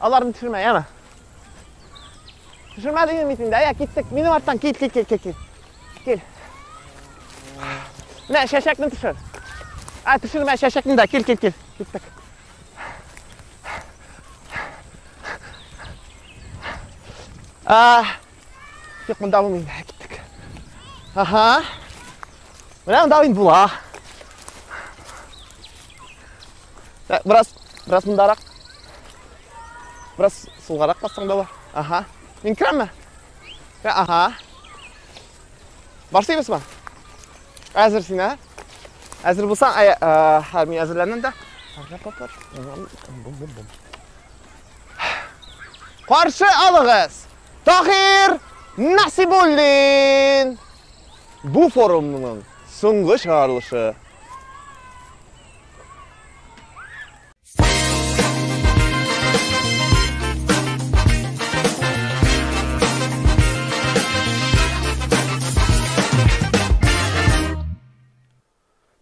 Аларны төшермә, яме. Төшермә дигән митин дә, я киттек. Минем арттан кит, кит, кит, кит, кит. Кил. Менә шәшәкне төшер. А, төшермә шәшәкне дә, кил, кил, кил. Киттек. А, юк, монда булмый, киттек. Ага. Менә монда инде була. Ә, Бераз, бераз мындарак. Бераз сулгарак бассаң да бар. Аха. Мин керәмме? Ә, Аха. Барсыйбыз ба? Әзер син, ә? Әзер булсаң, ә, ә, ә, мин әзерләнәм дә. Пар-пар-пар. Бум-бум-бум. Каршы алыгыз! Тахир Насибуллин! Бу форумның соңгы чыгарылышы.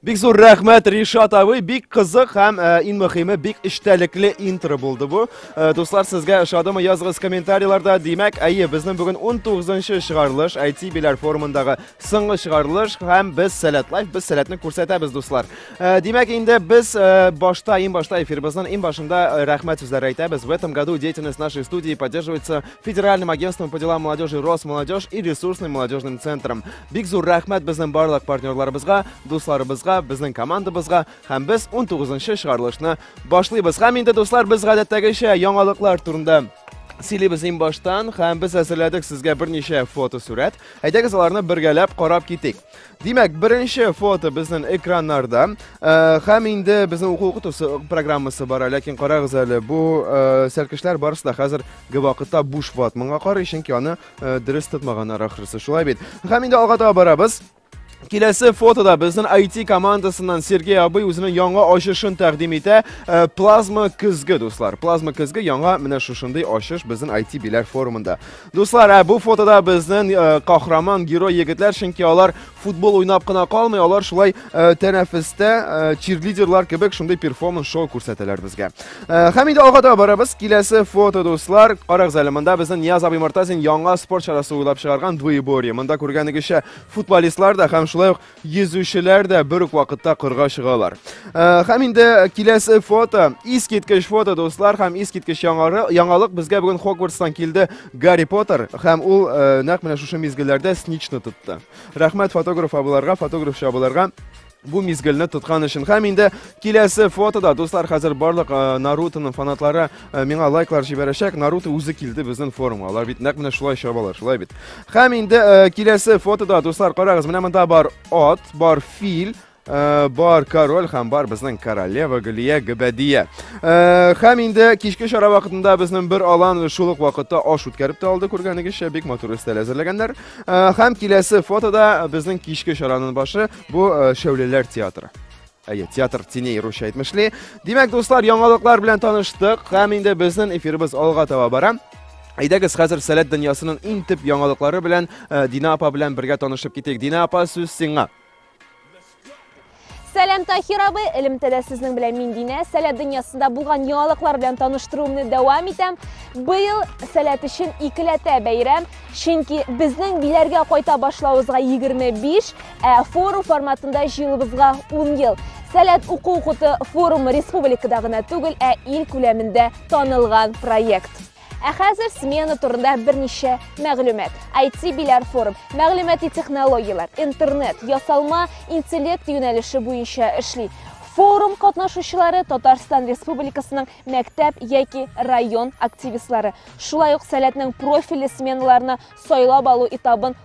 Бик зур рәхмәт Ришат абый, бик кызык һәм э, иң мөхиме бик эчтәлекле интро булды бу. Э, дуслар, сезгә ошадымы? Языгыз комментарийларда. Димәк, әйе, безнең бүген 19-нчы чыгарылыш IT биләр форумындагы Соңгы чыгарылыш һәм без сәләт лайф, без сәләтне күрсәтәбез, дуслар. Э, Димәк, инде без э, башта, иң башта эфирбызның иң башында э, рәхмәт сүзләре әйтәбез. В этом году деятельность нашей студии поддерживается Федеральным агентством по делам молодежи Росмолодежь и ресурсным молодежным центром. Бик зур рәхмәт безнең барлык партнерларыбызга, дусларыбызга, безнең командабызга һәм без 19-нчы чыгарылышны башлыйбыз. Һәм инде, дуслар, без гадәттәгечә яңалыклар турында сөйлибез иң баштан һәм без әзерләдек сезгә берничә фотосурәт. Әйдәгез аларны бергәләп карап китик. Димәк, беренче фото безнең экраннарда. Э, һәм инде безнең уку укытусы программасы бар, ләкин карагыз әле, бу э, сәлкешләр барысы да хәзер вакытта буш ватманга карый, чөнки аны э, дөрес тотмаганнар ахрысы. Шулай бит. Һәм инде алга таба барабыз. Киләсе фотода безнең IT командасыннан Сергей абый үзенең яңа ачышын тәкъдим итә. Э, плазма көзге, дуслар. Плазма көзге яңа менә шушындый ачыш безнең IT биләр форумында. Дуслар, ә бу фотода безнең э, кахраман герой егетләр, чөнки алар футбол уйнап кына калмый, алар шулай э, тәнәфестә э, чирлидерлар кебек шундый перформанс шоу күрсәтәләр безгә. Һәм инде алга таба барабыз. Киләсе фото, дуслар, карагыз әле монда безнең Нияз абый Мортазин яңа спорт чарасы уйлап чыгарган двоеборье. Монда күргәнегезчә футболистлар да һәм шулай ук Йөзүчеләр дә бер үк вакытта кырга чыгалар. Э, һәм инде киләсе фото, искиткеч фото, дуслар, һәм искиткеч яңалык безгә бүген Хогвартстан килде Гарри Поттер, һәм ул э, нәкъ менә шушы мизгелләрдә сничны тотты. Рәхмәт фотограф абыларга, фотограф чабыларга бу мизгелне тоткан өчен. Һәм инде киләсе фотода, дуслар, хәзер барлык э, Нарутоның фанатлары Э, миңа лайклар җибәрәчәк наруто үзе килде безнең форумга алар бит нәкъ менә шулай чабалар шулай бит һәм инде э, киләсе фотода дуслар карагыз менә монда бар ат бар фил э, бар король һәм бар безнең королева гөлия гөбәдия һәм инде кичке чара вакытында безнең бер алан шул ук вакытта аш үткәреп тә алды күргәнегезчә бик матур өстәл әзерләгәннәр һәм киләсе фотода безнең кичке чараның башы бу шәүләләр театры Әйе, театр теней русча әйтмешли. Димәк, дуслар, яңалыклар белән таныштык һәм инде безнең эфирыбыз алга таба бара. Әйдәгез хәзер сәләт дөньясының иң төп яңалыклары белән э, Дина апа белән бергә танышып китик. Дина апа, сүз сиңа. Сәләм Тахир абый, элемтәдә сезнең белән мин Динә. Сәләт дөньясында булган яңалыклар белән таныштыруымны дәвам итәм. Быел сәләт өчен икеләтә бәйрәм, чөнки безнең биләргә кайта башлавызга 25, Ә форум форматында җыелыбызга 10 ел. Сәләт уку укуты форумы республикада гына түгел, ә ил күләмендә танылган проект. Ә хәзер смена турында берничә мәгълүмат. IT Биләр форум, мәгълүмати технологияләр, интернет, ясалма интеллект юнәлеше буенча эшли. Форум катнашучылары Татарстан Республикасының мәктәп яки район активистлары. Шулай ук сәләтнең профильле сменаларына сайлап алу этабын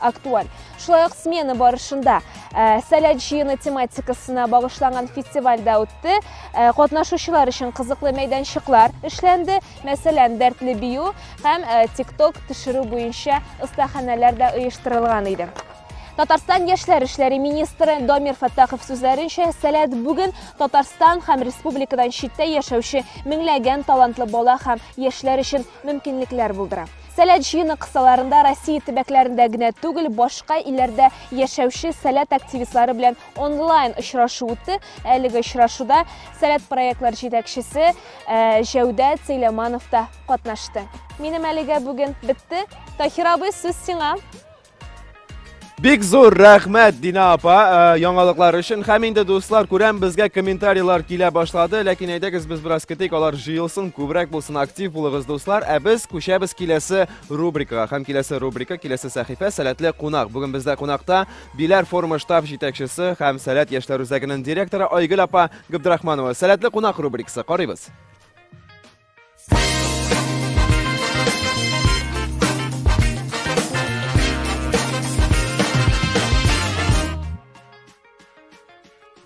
актуаль. Шулай ук смена барышында э, Сәләт җыены тематикасына багышланган фестиваль дә үтте. Э, катнашучылар өчен кызыклы мәйданчыклар эшләнде. Мәсәлән, дәртле бию һәм э, тикток төшерү буенча остаханәләр дә оештырылган иде. Татарстан яшьләр эшләре министры Домир Фаттахов сүзләренчә, Сәләт бүген Татарстан һәм республикадан читтә яшәүче меңләгән талантлы бала һәм яшьләр өчен мөмкинлекләр булдыра. Сәләт җыены кысаларында Россия төбәкләрендә генә түгел, башка илләрдә яшәүче сәләт активистлары белән онлайн очрашу үтте. Әлеге очрашуда сәләт проектлар җитәкчесе э, Җәүдәт Сәйләманов та катнашты. Минем әлегә бүген бетте. Таһир абый, сүз сиңа. Бик зур рәхмәт Дина апа э, яңалыклар өчен. Һәм инде дуслар, күрәм безгә комментарийлар килә башлады, ләкин әйдәгез без бераз көтик, алар җыелсын, күбрәк булсын, актив булыгыз дуслар. Ә без күчәбез киләсе рубрикага. Һәм киләсе рубрика, киләсе сәхифә Сәләтле кунак. Бүген бездә кунакта Биләр форумы штаб җитәкчесе һәм Сәләт яшьләр үзәгенең директоры Айгөл апа Габдрахманова. Сәләтле кунак рубрикасы карыйбыз.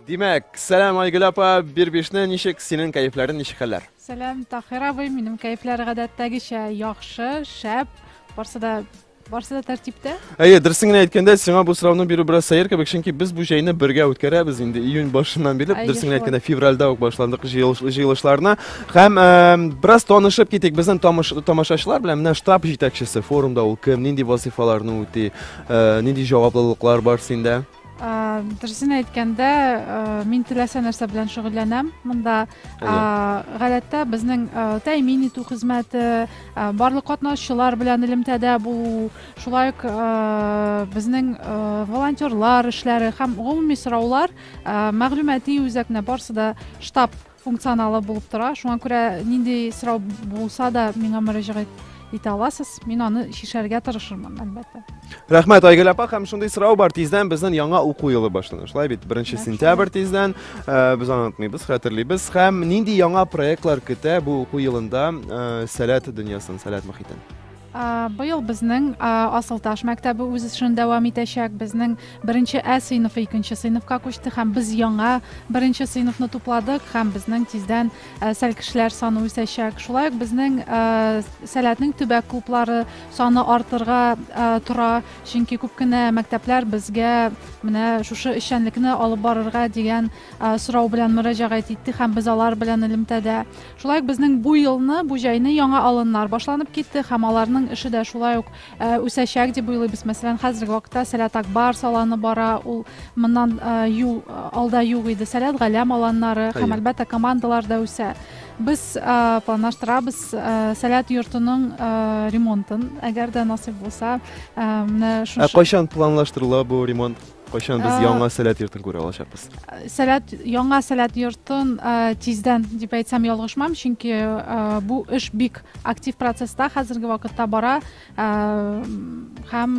Димәк, сәлам Айгөл апа, бер бишне ничек, синең кәефләрен ничек хәлләр? Сәлам Тахир абый, минем кәефләр гадәттәгечә яхшы, шәп, барсы да Барсы да тәртиптә? Әйе, дөресен генә әйткәндә, сиңа бу сорауны бирү бераз сәер кебек, чөнки без бу җәйне бергә үткәрәбез инде. Июнь башыннан бирле, дөресен генә әйткәндә, февральдә үк башландык җыелышларына. Һәм бераз танышып китик безнең тамашачылар белән. Менә штаб җитәкчесе форумда ул кем, нинди вазифаларны үти, нинди җаваплылыклар бар синдә? Дөресен әйткәндә, мин теләсә нәрсә белән шөгыльләнәм. Монда гадәттә безнең тәэмин итү хезмәте, барлык катнашучылар белән элемтәдә булу, шулай ук безнең волонтерлар эшләре һәм гомуми сораулар мәгълүмати үзәкне барсы да штаб функционалы булып тора. Шуңа күрә нинди сорау булса да миңа мөрәҗәгать итә аласыз. Мин аны чишәргә тырышырмын, әлбәттә. Рәхмәт, Айгөл апа, һәм шундый сорау бар. Тиздән безнең яңа уку елы башлана. Шулай бит, 1 сентябрь тиздән. Э, без аны онытмыйбыз, хәтерлибез. Һәм нинди яңа проектлар көтә бу уку елында э, сәләт дөньясын, сәләт мөхитен? Быел безнең Асылташ мәктәбе үз эшен дәвам итәчәк. Безнең беренче Ә сыйныфы икенче сыйныфка күчте һәм без яңа беренче сыйныфны тупладык һәм безнең тиздән сәл кешеләр саны үсәчәк. Шулай ук безнең Сәләтнең төбәк клублары саны артырга тора, чөнки күп кенә мәктәпләр безгә менә шушы эшчәнлекне алып барырга дигән сорау белән мөрәҗәгать итте һәм без алар белән элемтәдә. Шулай ук безнең бу елны, бу җәйне яңа алыннар башланып китте һәм аларның эше дә шулай ук үсәчәк дип уйлыйбыз. Мәсәлән, хәзерге вакытта Сәләт Акбар саланы бара, ул моннан ел алда юк иде. Сәләт Галәм аланнары һәм әлбәттә командалар да үсә. Без планлаштырабыз Сәләт йортының ремонтын, әгәр дә насыйп булса, менә шушы. Ә кайчан планлаштырыла бу ремонт? Кайчан без яңа сәләт йортын күрә алачакбыз? Сәләт яңа сәләт йортын тиздән дип әйтсәм ялгышмам, чөнки бу эш бик актив процесста хәзерге вакытта бара һәм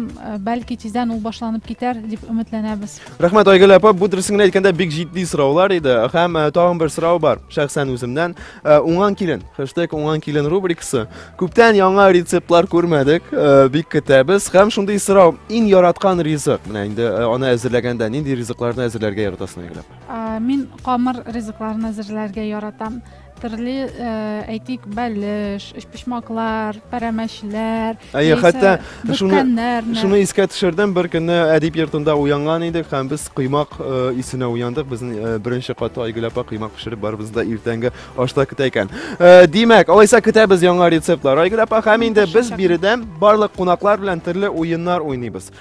бәлки тиздән ул башланып китәр дип өметләнәбез. Рәхмәт Айгөл апа, бу дөресен генә әйткәндә бик җитди сораулар иде. Һәм тагын бер сорау бар, шәхсән үземнән. Э, уңган килен хэштег уңган килен рубрикасы күптән яңа рецептлар күрмәдек э, бик көтәбез һәм шундый сорау иң яраткан ризык менә инде э, аны әзерләгәндә нинди ризыкларны әзерләргә яратасың әйгеләп мин камыр ризыкларын әзерләргә яратам төрле әйтик бәлеш өчпочмаклар пәрәмәчләр Әйе, хәтта шуны шуны искә төшердем, бер көнне әдип йортында уянган идек һәм без коймак э, исенә уяндык. Безнең э, беренче каты Айгөл апа коймак пешереп барыбыз да иртәнге ашта көтә икән. Э, димәк, алайса көтәбез яңа рецептлар. Айгөл апа, һәм инде без биредә барлык кунаклар белән төрле уеннар уйныйбыз.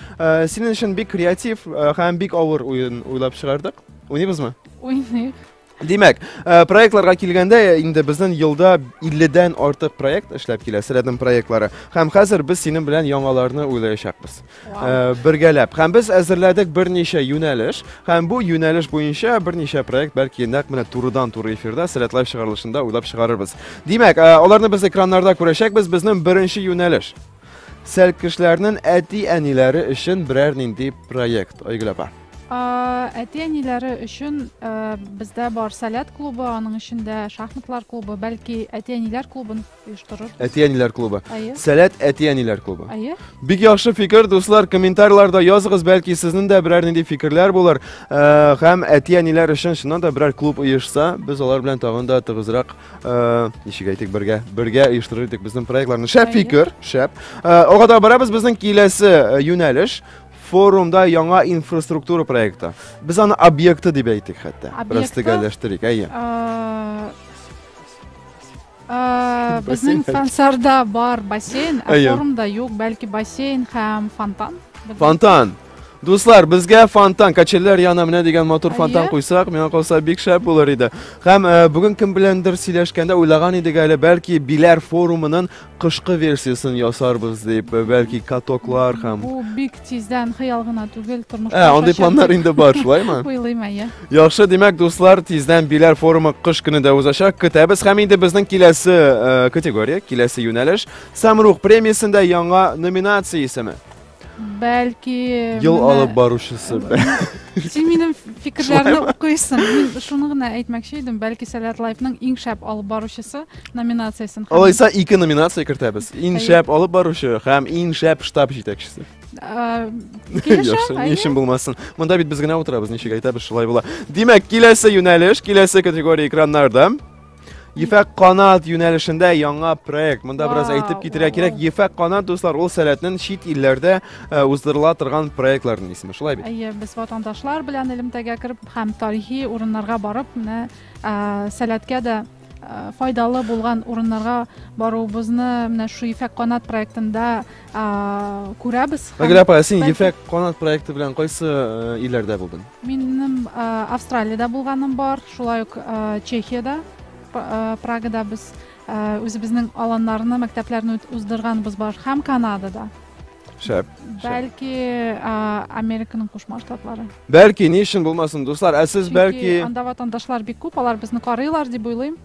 Синең өчен бик креатив һәм бик авыр уен уйлап чыгардык. Уйныйбызмы? Уйныйк. Димәк, э, проектларга килгәндә э, инде безнең елда 50-дән артык проект эшләп килә, Сәләдем проектлары. Һәм хәзер без синең белән яңаларны уйлаячакбыз. Э, бергәләп. Һәм без әзерләдек берничә юнәлеш, һәм бу юнәлеш буенча берничә проект бәлки нәкъ менә турыдан туры эфирда Сәләт лайв чыгарылышында уйлап чыгарырбыз. Димәк, аларны без экраннарда күрәчәкбез, безнең беренче юнәлеш. Сәлкешләрнең әти-әниләре өчен берәр нинди проект. Айгөл апа. Әти-әниләре өчен бездә бар Сәләт клубы, аның эчендә шахматлар клубы, бәлки әти-әниләр клубын оештырырбыз. Әти-әниләр клубы. Сәләт әти-әниләр клубы. Әйе. Бик яхшы фикер, дуслар, комментарийларда языгыз, бәлки сезнең дә берәр нинди фикерләр булыр. Һәм әти-әниләр өчен шуннан да берәр клуб оешса, без алар белән тагын да тыгызрак, ничек әйтик, бергә, бергә оештырыр идек безнең проектларны. Шәп фикер, шәп. Ага да барабыз безнең киләсе юнәлеш. Форумда яңа инфраструктура проекты. Без аны объекты дип әйтик хәтта. Растегәләштерик, әйе. Безнең Сансарда бар бассейн, ә форумда юк, бәлки бассейн һәм фонтан. Фонтан. Дуслар, безгә фонтан, качелләр яна менә дигән матур фонтан куйсак, миңа калса бик шәп булыр иде. Һәм э, бүген кем беләндер сөйләшкәндә уйлаган идек әле, бәлки Биләр форумының Кышкы версиясын ясарбыз дип, бәлки катоклар һәм Бу бик тиздән хыял гына түгел, тормышка Ә, андый ашачак планнар дип инде бар, шулаймы? Уйлыйм, әйе. Яхшы, димәк, дуслар, тиздән Биләр форумы кыш көне дә узачак. Көтәбез һәм инде безнең киләсе э, категория, киләсе юнәлеш Самрух премиясендә яңа номинация исеме. Бәлки Ел менә- алып баручысы. Син минем фикерләрне укыйсың. Мин шуны гына әйтмәкче идем. Бәлки Сәләт Лайфның иң шәп алып баручысы номинациясен һәм, Алайса ике номинация кертәбез. Иң Әйе. шәп алып баручы һәм иң шәп штаб җитәкчесе. э, килешәм, Яхшы, ни әйе. өчен булмасын. Монда бит без генә утырабыз, ничек әйтәбез, шулай була. Димәк, киләсе юнәлеш, киләсе категория экраннарда. Ефәк канат юнәлешендә яңа проект. Монда бераз әйтеп китерә кирәк. Ефәк канат дуслар ул сәләтнең чит илләрдә э, уздырыла торган проектларның исеме. Шулай бит? Әйе, без ватандашлар белән элемтәгә кереп һәм тарихи урыннарга барып, менә э, сәләткә дә Э, файдалы булган урыннарга баруыбызны менә шу ефәк канат проектында күрәбез мәгәрә апа ә син ефәк канат проекты белән кайсы э, илләрдә булдың минем э, австралиядә булганым бар шулай ук э, чехиядә прагада без үзебезнең аланнарны мәктәпләрне уздырганбыз бар һәм канадада шәп бәлки американың кушма штатлары бәлки ни өчен булмасын дуслар ә сез бәлки анда ватандашлар бик күп алар безне карыйлар дип уйлыйм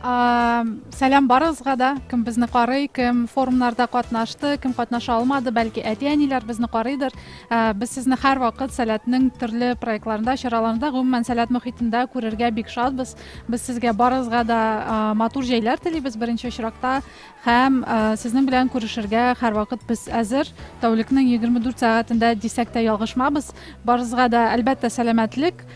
сәлам барыгызга да кем безне карый кем форумнарда катнашты кем катнаша алмады бәлки әти әниләр безне карыйдыр ә, без сезне һәрвакыт сәләтнең төрле проектларында чараларында гомумән сәләт мөхитендә күрергә бик шатбыз без сезгә барыгызга да ә, матур җәйләр телибез беренче очракта һәм ә, сезнең белән күрешергә һәрвакыт без әзер тәүлекнең 24 сәгатендә дисәк тә ялгышмабыз барыгызга да әлбәттә сәламәтлек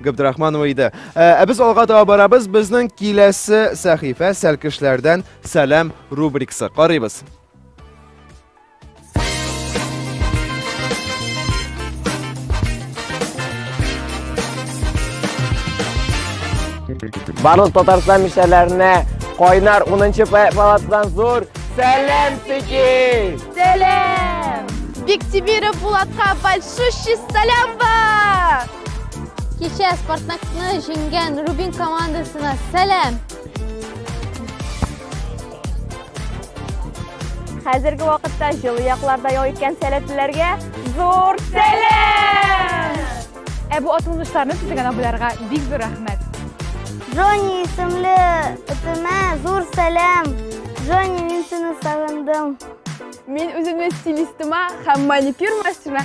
Габдрахманова иде. Ә ә без алга таба барабыз. Безнең киләсе сәхифә Сәлкешләрдән сәлам рубрикасы. Карыйбыз. Барлык Татарстан мишәләренә кайнар 10-нчы палатадан зур сәлам Сики! Сәлам! Биктимиров Булатка большущий сәлам бар! Кичә Спартакны җиңгән Рубин командасына сәлам! Хәзерге вакытта җылы якларда ял иткән сәләтлеләргә зур сәлам! Ә бу атылмышларны төзегән абыйларга бик зур рәхмәт. Джонни исемле этемә зур сәлам. Джонни, мин сине сагындым. Мин үземне стилистыма һәм маникюр мастерына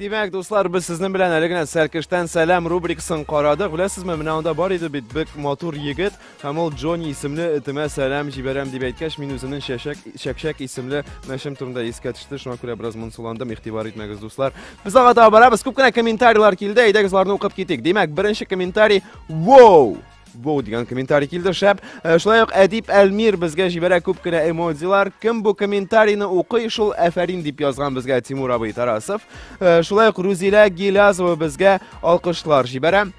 Димәк, дуслар, без сезнең белән әле генә Сәркештән сәлам рубрикасын карадык. Беләсезме, менә анда бар иде бит бик матур егет, һәм ул Джонни исемле этемә сәлам җибәрәм дип әйткәч, мин үзенең чәчәк, чәкчәк исемле мәчем турында искә төште. Шуңа күрә бераз монсуландым, игътибар итмәгез, дуслар. Без алга таба барабыз. Күп кенә комментарийлар килде, әйдәгез аларны укып китик. Димәк, беренче комментарий, вау! Воу дигән комментарий килде, шәп. Э, шулай ук Әдип Әлмир безгә җибәрә күп кенә эмодзилар. Кем бу комментарийны укый, шул әфәрин дип язган безгә Тимур абый Тарасов. Э, шулай ук Рузилә Гилязова безгә алкышлар җибәрә.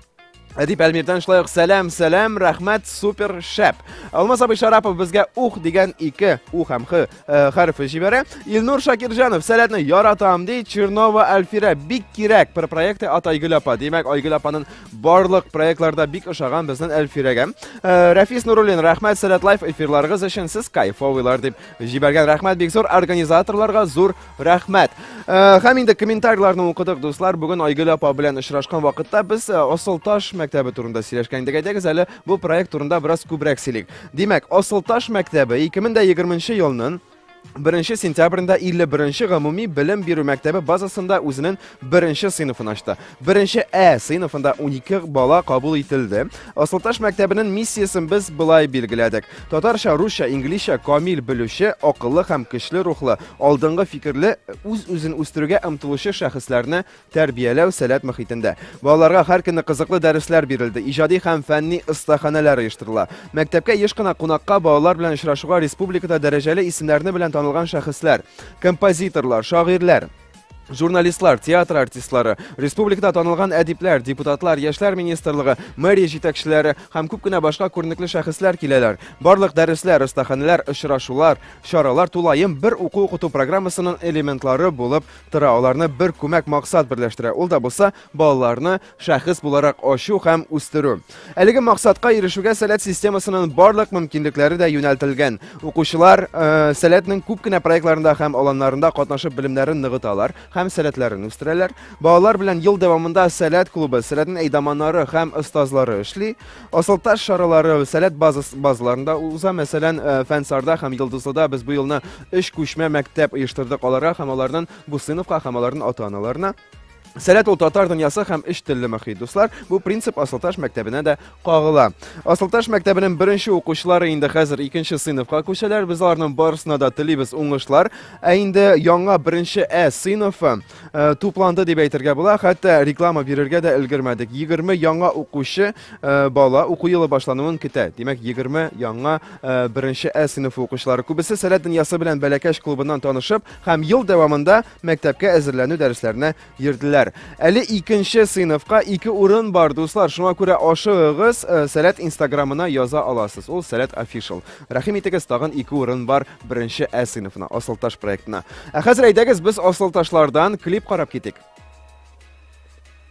Әдип Әлмирдән шулай ук сәлам, сәлам, рәхмәт, супер, шәп. Алмаз абый Шарапов безгә ух дигән ике, у һәм х Э, хәрефе җибәрә. Илнур Шакирҗанов, сәләтне яратам, ди Чернова Альфира, бик кирәк бер проекты от Айгөл апа. Димәк, Айгөл апаның барлык проектларда бик ошаган безнең Альфирәгә. Э, Рәфис Нуруллин, рәхмәт сәләт лайф эфирларыгыз өчен, сез кайфовыйлар дип җибәргән. Рәхмәт бик зур организаторларга, зур Рәхмәт. Э, һәм инде комментарийларны укыдык, дуслар. Бүген Айгөл апа белән очрашкан вакытта без э, Асылташ мәктәбе турында сөйләшкән идек. Әйдәгез әле бу проект турында бераз күбрәк сөйлик. Димәк, Асылташ мәктәбе 2020 елның 1 сентябрендә 51 гомуми белем бирү мәктәбе базасында үзенең беренче сыйныфын ачты. Беренче Ә сыйныфында 12 бала кабул ителде. Асылташ мәктәбенең миссиясен без былай билгеләдек. Татарча, русча, инглизчә камил белүче, акыллы һәм көчле рухлы, алдынгы фикерле, үз-үзен үстерүгә омтылучы шәхесләрне тәрбияләү сәләт мөхитендә. Балаларга һәр көнне кызыклы дәресләр бирелде, иҗади һәм фәнни остаханәләр оештырыла. Мәктәпкә еш кына кунакка балалар белән очрашуга республикада дәрәҗәле исемнәрне белән танылган шәхесләр, композиторлар, шагыйрьләр, Журналистлар, театр артистлары, республикада танылган әдипләр, депутатлар, яшьләр министрлыгы, мэрия җитәкчеләре һәм күп кенә башка күренекле шәхесләр киләләр. Барлык дәресләр, остаханәләр, очрашулар, чаралар тулаем бер уку укыту программасының элементлары булып тора. Аларны бер күмәк максат берләштерә. Ул да булса балаларны шәхес буларак ачу һәм үстерү. Әлеге максатка ирешүгә сәләт системасының барлык мөмкинлекләре дә юнәлтелгән. Укучылар э, сәләтнең күп кенә проектларында һәм аланнарында катнашып белемнәрен ныгыталар һәм сәләтләрен үстерәләр. Балалар белән ел дәвамында сәләт клубы, сәләтен әйдаманнары һәм остазлары эшли. Асылташ шаралары сәләт базас, базаларында уза, мәсәлән, э, Фәнсарда һәм Йылдызлыда без бу елны өч күчмә мәктәп оештырдык аларга һәм алардан Бусыновка һәм алардан ата-аналарына. Сәләт ул татар дөньясы һәм эш телле мөхит. Дуслар, бу принцип Асылташ мәктәбенә дә кагыла. Асылташ мәктәбенең беренче укучылары инде хәзер икенче сыйныфка күчәләр. Без аларның барысына да телибез уңышлар. Ә инде яңа беренче Ә сыйныфы э, тупланды дип әйтергә була. Хәтта реклама бирергә дә өлгермәдек. 20 яңа укучы э, бала уку елы башлануын көтә. Димәк, 20 яңа э, беренче Ә сыйныфы укучылары. Күбесе Сәләт дөньясы белән бәләкәч клубыннан танышып һәм ел дәвамында Мәктәпкә әзерләнү дәресләренә йөрделәр. Әле икенче сыйныфка ике урын бар, дуслар. Шуңа күрә ашыгыгыз, э, Сәләт инстаграмына яза аласыз. Ул Сәләт офишл. Рәхим итегез, тагын ике урын бар беренче Ә сыйныфына, Асылташ проектына. Ә хәзер әйдәгез, без асылташлардан клип карап китик.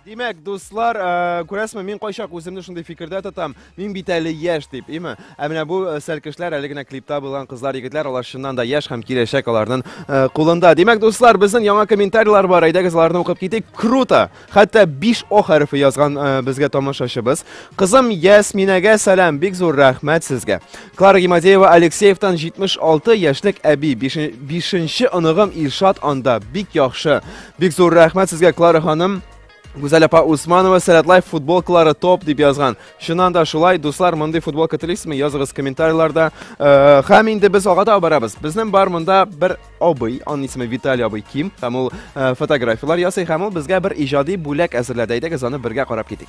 Димәк, дуслар, э, күрәсме, мин кайчак үземне шундый фикердә тотам, мин бит әле яшь дип, име? Ә менә бу э, сәлкешләр әле генә клипта булган кызлар, егетләр, алар чыннан да яшь һәм киләчәк аларның э, кулында. Димәк, дуслар, безнең яңа комментарийлар бар, әйдәгез аларны укып китик. Круто! Хәтта 5 о хәрефе язган э, безгә тамашачыбыз. Кызым Ясминәгә сәлам, бик зур рәхмәт сезгә. Клара Гимадеева Алексеевтан 76 яшьлек әби, 5 нче оныгым Илшат анда бик яхшы. Бик зур рәхмәт сезгә, Клара ханым. Гүзәл апа Усманова Сәләт Лайф футболкалары топ дип язган. Шуннан да шулай, дуслар, мондый футболка телисезме? Языгыз комментарийларда. Э, һәм инде без алга таба барабыз. Безнең бар монда бер абый, аның исеме Виталий абый Ким, һәм ул э, фотографияләр ясый, һәм ул безгә бер иҗади бүләк әзерләде. Әйдәгез аны бергә карап китик.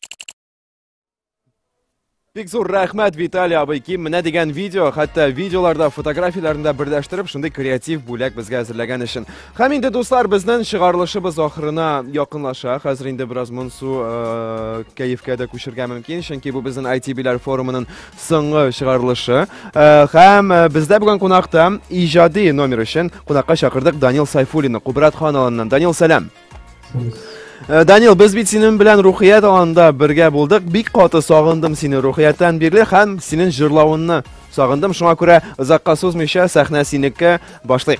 Бик зур рәхмәт, Виталий абый. Ким менә дигән видео, хәтта видеоларда, фотографияләрендә берләштереп, шундый креатив бүләк безгә әзерләгән өчен. Һәм инде, дуслар, безнең чыгарылышыбыз ахырына якынлаша. Хәзер инде бераз монсу э, кәефкә дә күчергә мөмкин, чөнки бу безнең ITB-ләр форумының соңгы чыгарылышы. Э, һәм э, бездә бүген кунакта иҗади номер өчен кунакка чакырдык Данил Сайфуллинны, Кубрат Ханалыннан. Данил, сәлам. Э, Данил, без бит синең белән Рухият аланда бергә булдык. Бик каты сагындым сине Рухияттан бирле һәм синең җырлавыңны сагындым. Шуңа күрә озакка сузмыйча сәхнә синеке башлыйк.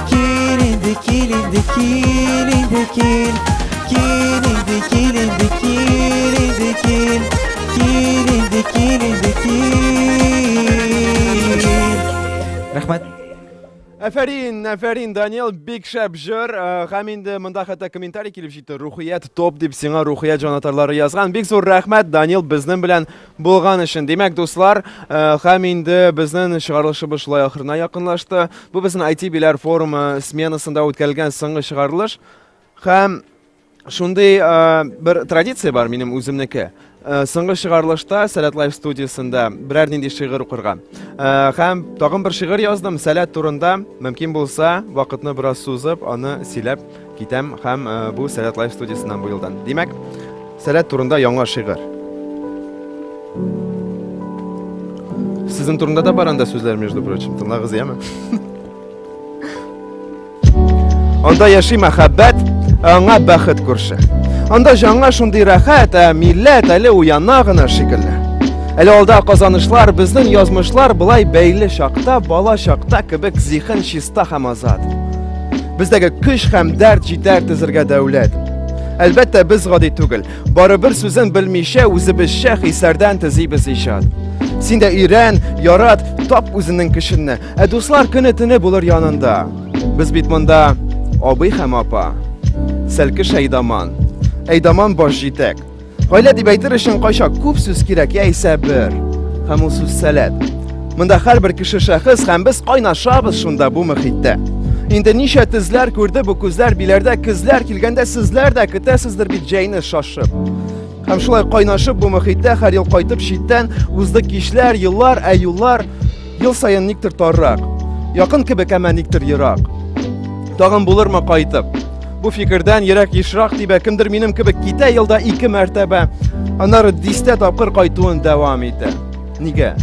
Кил инде, кил инде, кил инде, кил. Кил инде, кил инде, кил инде, кил. Кил инде, кил инде, кил. Рәхмәт. Афәрин, афәрин, Даниэл, бик шәп җыр. Э, Һәм инде монда хәтта комментарий килеп җитте. Рухият топ дип сиңа рухият җанатарлары язган. Бик зур рәхмәт, Даниэл, безнең белән Булган өчен. Димәк, дуслар, һәм инде безнең чыгарылышыбыз шулай ахырына якынлашты. Бу безнең IT биләр форумы сменасында үткәрелгән соңгы чыгарылыш. Һәм шундый бер традиция бар минем үземнеке. Соңгы чыгарылышта Сәләт Лайф студиясендә берәр нинди шигырь укырга. Һәм тагын бер шигырь яздым Сәләт турында. Мөмкин булса, вакытны бераз сузып, аны сөйләп Китәм һәм бу Сәләт Лайф студиясеннән бу елдан. Димәк, Сәләт турында яңа шигырь. Сезнең турында да бар анда сүзләр, между прочим. Тыңлагыз, яме? Анда яши мәхәббәт, аңа бәхет күрше. Анда жаңа шундый рәхәт, ә милләт әле уяна гына шикелле. Әле алда казанышлар, безнең язмышлар былай бәйле чакта, бала чакта кебек зиһен чиста һәм азат. Бездәге көч һәм дәрт җитәр тезергә дәүләт. Әлбәттә, без гади түгел. Барыбер сүзен белмичә үзебезчә хисләрдән тезибез иҗат. Син дә өйрән, ярат, тап үзенең кешенне. Ә дуслар көне төне булыр янында. Без бит монда абый һәм апа. Сәлкеш Әйдаман. Әйдаман баш җитәк. Гаилә дип әйтер өчен кайчак күп сүз кирәк, яисә бер. Һәм ул сүз сәләт. Монда һәрбер кеше шәхес һәм без кайнашабыз шунда бу мөхиттә. Инде ничә тезләр күрде бу күзләр биләрдә кызлар килгәндә сезләр дә көтәсездер бит җәйне шашып. Һәм шулай кайнашып бу мөхиттә һәр ел кайтып читтән узды кичләр, еллар, ә юллар Ел саен никтер таррак, якын кебек әмә никтер ерак. Тагын булырмы кайтып? Бу фикердән ерак ешрак дип кемдер минем кебек китә елда ике мәртәбә, аннары дистә тапкыр кайтуын дәвам итә. Нигә?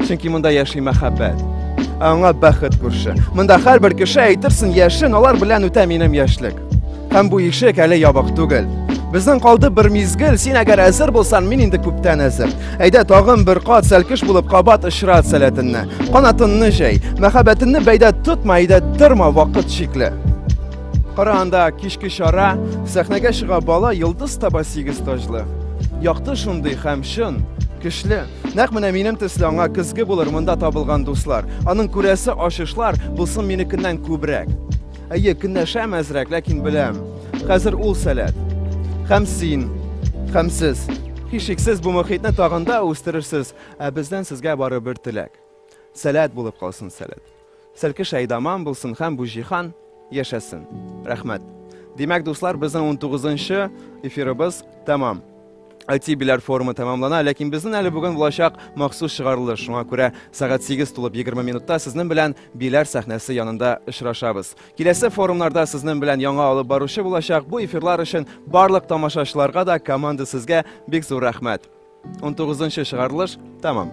Чөнки монда яши мәхәббәт. Аңа бәхет күрше. Монда һәрбер кеше әйтерсең яшен, алар белән үтә минем яшьлек. Һәм бу ишек әле ябык түгел. Безнең калды бер мизгел, син әгәр әзер булсан, мин инде күптән әзер. Әйдә тагын бер кат сәлкеш булып кабат ышрат сәләтенне. Канатынны җәй, мәхәббәтенне бәйдә тотма, әйдә тырма вакыт чикле. Кара анда кичке чара, сәхнәгә чыга бала йолдыз таба сигез таҗлы. Якты шундый һәм чын, көчле. Нәкъ менә минем төсле аңа көзге булыр монда табылган дуслар. Аның күрәсе ачышлар булсын минекеннән күбрәк. Әйе, көнләшә мәзрәк, ләкин беләм. Хәзер ул сәләт. Хәм син, хәм сез. Хишексез бу мөхитне тагында үстерерсез, ә бездән сезгә бары бер теләк. Сәләт булып калсын сәләт. Сәлке шәйдаман булсын хәм бу җихан яшәсен. Рәхмәт. Димәк, дуслар, безнең 19 нчы эфирыбыз тәмам. IT-биләр форумы тәмамлана, ләкин безнен әле бүген булачак махсус чыгарылыш. Шуңа күрә сәгать 8 тулып 20 минутта сезнен белән биләр сәхнәсе янында очрашабыз. Киләсе форумнарда сезнен белән яңа алып баручы булачак. Бу эфирлар өчен барлык тамашачыларга да, команда сезгә бик зур рәхмәт. 19 нчы чыгарылыш тәмам.